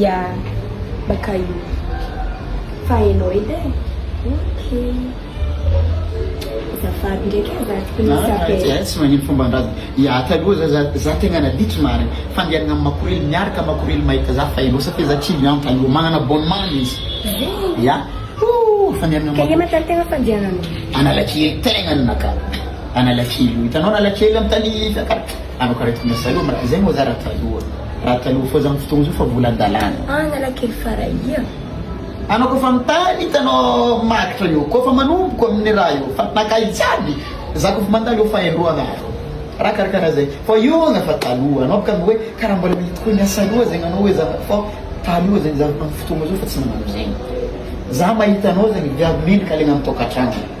Ia baka io fa enao edy e. Ok. Azafady ndraiky e, za tokony misy appel. Za tsy magnino fomban-draza. Ia taloha za za za tegna naditra marigny. Fandehanagna amin'ny makorely miaraka makorely mahita za fa enao satria za cliente anao. Magnana abonnement izy. Zay. Ia. Ooh fandehanagna Ka makorely. ianao tena fandehananao. Analakely tegna ninaka Analakely io hitanao Analakely am tany Fiakara anao ko raha eto Mesa io ma zay moa za raha taloha. Raha taloha fô zany fotoagna zao fa mbola andalana. Analakely Farahia. Anao kôfa mitany hitanao magitra io kôfa manomboko aminy raha io fa nakahy jiaby za kôfa mandalo eo fa indroa andro raha karakara zay fa io anga fa taloha anao bôka anga oe kara mbola mety koa niasa aloha zegny anao oe za fa taloha zegny za am fotoagna zao fa tsy magnano zegny za mahita anao zegny viavy mendrika alaigna am tokatrano.